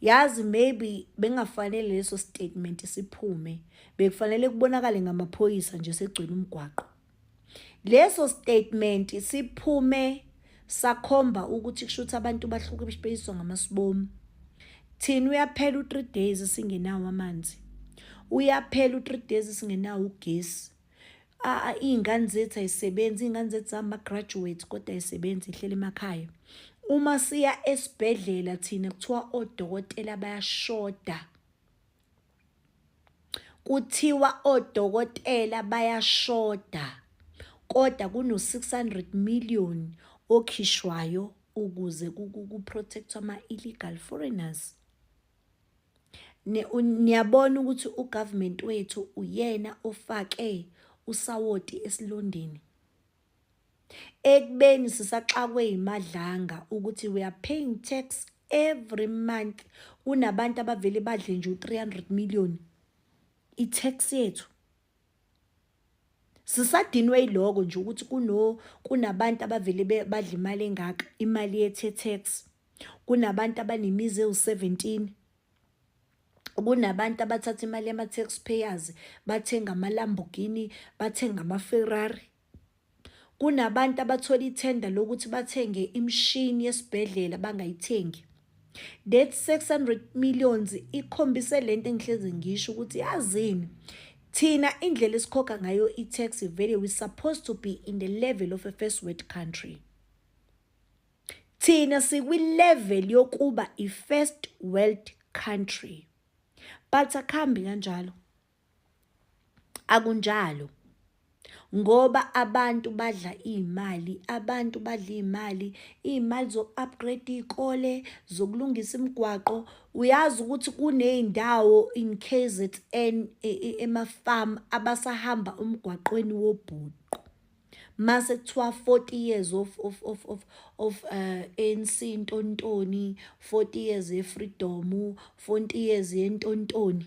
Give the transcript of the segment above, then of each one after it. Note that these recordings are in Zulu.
Yazi maybe bengafanele leso statement siphume bekufanele kubonakale ngamaphoyisa nje segcwele umgwaqo. Leso statement siphume sakhomba ukuthi kusho ukuthi abantu bahluke beyiswa ngamasibomu. Thina uyaphela u-3 days singenawo amanzi. Uyaphela u-3 days singenawo ugesi. iy'ngane zethu ay'sebenzi iy'ngane zethu zama-graduate kodwa ay'sebenzi ihleli emakhaya uma siya esibhedlela thina kuthiwa odokotela bayashoda kuthiwa odokotela bayashoda kodwa kuno-600 million okhishwayo ukuze ku-protect-wa ama-illegal foreigners niyabona ukuthi ugovernment wethu uyena ofake usawoti esilondeni ekubeni sisaxakwe yimadlanga ukuthi we are paying tax every month kunabantu abavele badle nje u-300 million i-tax yethu Sisadinwe yiloko nje ukuthi kuno kunabantu abavele badla imali engaka, imali yethe tax. Kunabantu abanemizi ewu-seventeen, kunabantu abathatha imali yama-tax payers bathenga amaLambogini, bathenga amaFerrari. Kunabantu abathola ithenda lokuthi bathenge imishini yesibhedlela bangayithengi. That 600 millions ikhombise lento engihlezi ngisho ukuthi yazini thina indlela esikhokha ngayo i-tax vele we supposed to be in the level of a first world country. Thina sikwi-level yokuba i-first world country. But akuhambi kanjalo. Akunjalo. Ngoba abantu badla iy'mali, abantu badla iy'mali, iy'mali zoku-upgrade-a iy'kole, zokulungisa imigwaqo. Uyazi ukuthi kuney'ndawo in K_Z_N emafamu abasahamba umgwaqweni wobhuqu. Mase kuthiwa forty years of A_N_C ntonintoni, forty years ye-freedom, forty years yentonintoni.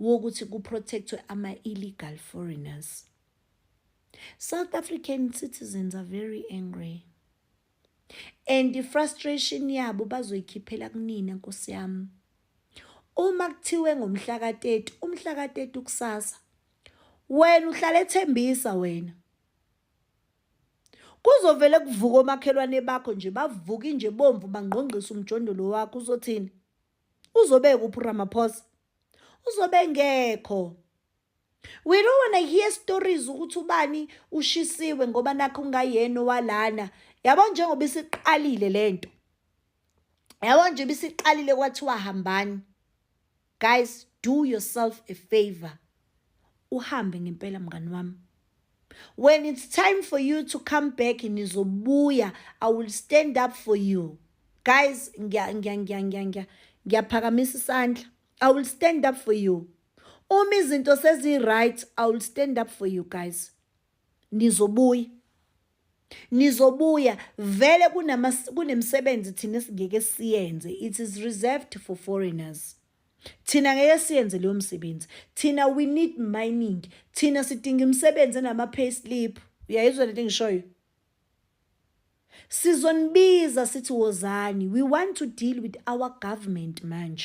wokuthi kuprotectwe ama-illegal foreigners south african citizens are very angry and i-frustration yabo bazoyikhiphela kunina nkosi yami uma kuthiwe ngomhla ka-30 umhla ka-30 kusasa wena uhlala ethembisa wena kuzovele kuvuka omakhelwane bakho nje bavuke nje bomvu bangqongqisa umjondolo wakho uzothini Uzobe kuphi Ramaphosa? Uzobe ngekho. We don't wanna hear stories ukuthi ubani ushisiwe ngoba nakho ungayena walana. Yabo njengoba isiqalile lento. Yabo nje bisiqalile kwathiwa hambani. Guys, do yourself a favor. uhambe ngempela mngani wami when it's time for you to come back nizobuya i will stand up for you guys ngiya ngiya ngiya ngiya ngiya ngiyaphakamisa isandla i will stand up for you uma izinto sezi-right i will stand up for you guys nizobuya nizobuya vele kunemisebenzi thina esingeke siyenze it is reserved for foreigners thina ngeke siyenze leyo msebenzi thina we need mining thina sidinga imisebenzi enama-pay slip uyayizwa lento engishoyo sizonibiza sithi wozani we want to deal with our government manje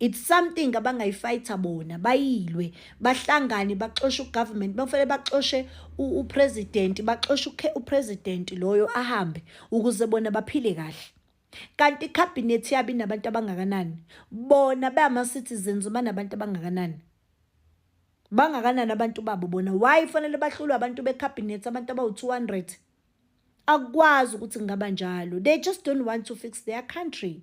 It's something abangayifayitha bona bayilwe bahlangane baxoshe ugovernment bakufanele baxoshe upresident baxoshe upresident loyo ahambe ukuze bona baphile kahle kanti icabinet yabi nabantu abangakanani bona bama citizens banabantu abangakanani bangakanani abantu babo bona why fanele bahlulwe abantu becabinet abantu abawu 200 akwazi ukuthi ngaba njalo they just don't want to fix their country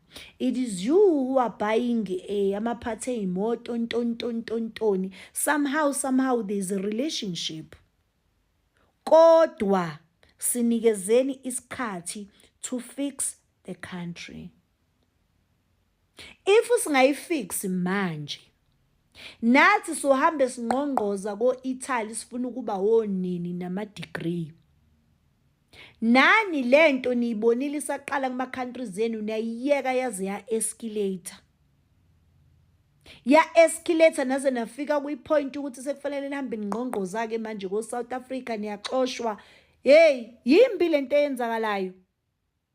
It is you who are buying eh, amaphathi ey'moto ntontontontoni somehow somehow there is a relationship kodwa sinikezeni isikhathi to fix the country if singayifix manje nathi sohambe singqongqoza ko-italy sifuna ukuba wonini nama-degree Nani lento niyibonile isaqala kuma countries enu niyayiyeka yaze ya escalator. Ya escalator naze nafika kwi point ukuthi sekufanele nihambe ningqongqoza ke manje ko South Africa niyaxoshwa. Hey, yimbi lento eyenzakalayo.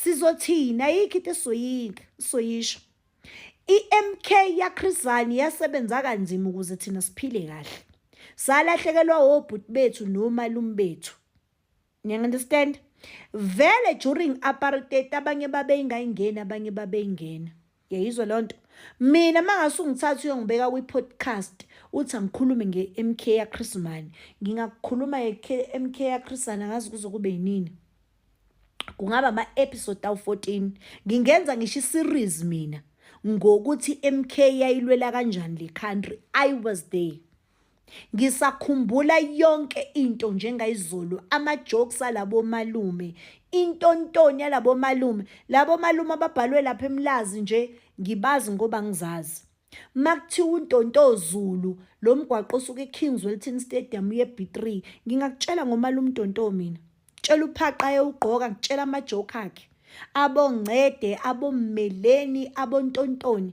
sizothini ayikho into esizoyinga sizoyisho i-mk yakhrizani yasebenza kanzima ukuze thina siphile kahle salahlekelwa obhuti bethu nomalume bethu niyangunderstand vele during apartheid abanye babeyingayingeni abanye babeyingena yayizwa loo nto mina mangase ungithatha uyongibeka kwi-podcast uthi angikhulume nge-m k yachris mani ngingakukhuluma nge-m k yachrisana ngazi kuze kube yinini kungaba ama-episode awu-14 ngingenza ngisho i-series mina ngokuthi i-m k yayilwela kanjani le country i was there Ngisakhumbula yonke into njengayizolo, ama-jokes alabo malume, intontoni yalabo malume. Labo malume ababhalwe lapha eMlazi nje ngibazi ngoba ngizazi. Makuthiwa uNtonto Zulu, lo mgwaqo osuke eKings Wellington Stadium uye B3, ngingakutshela ngomalume uNtonto mina. Tshela uphaqa ayewugqoka, ngitshela ama-joke akhe. Abongcede, abommeleni, abontontoni.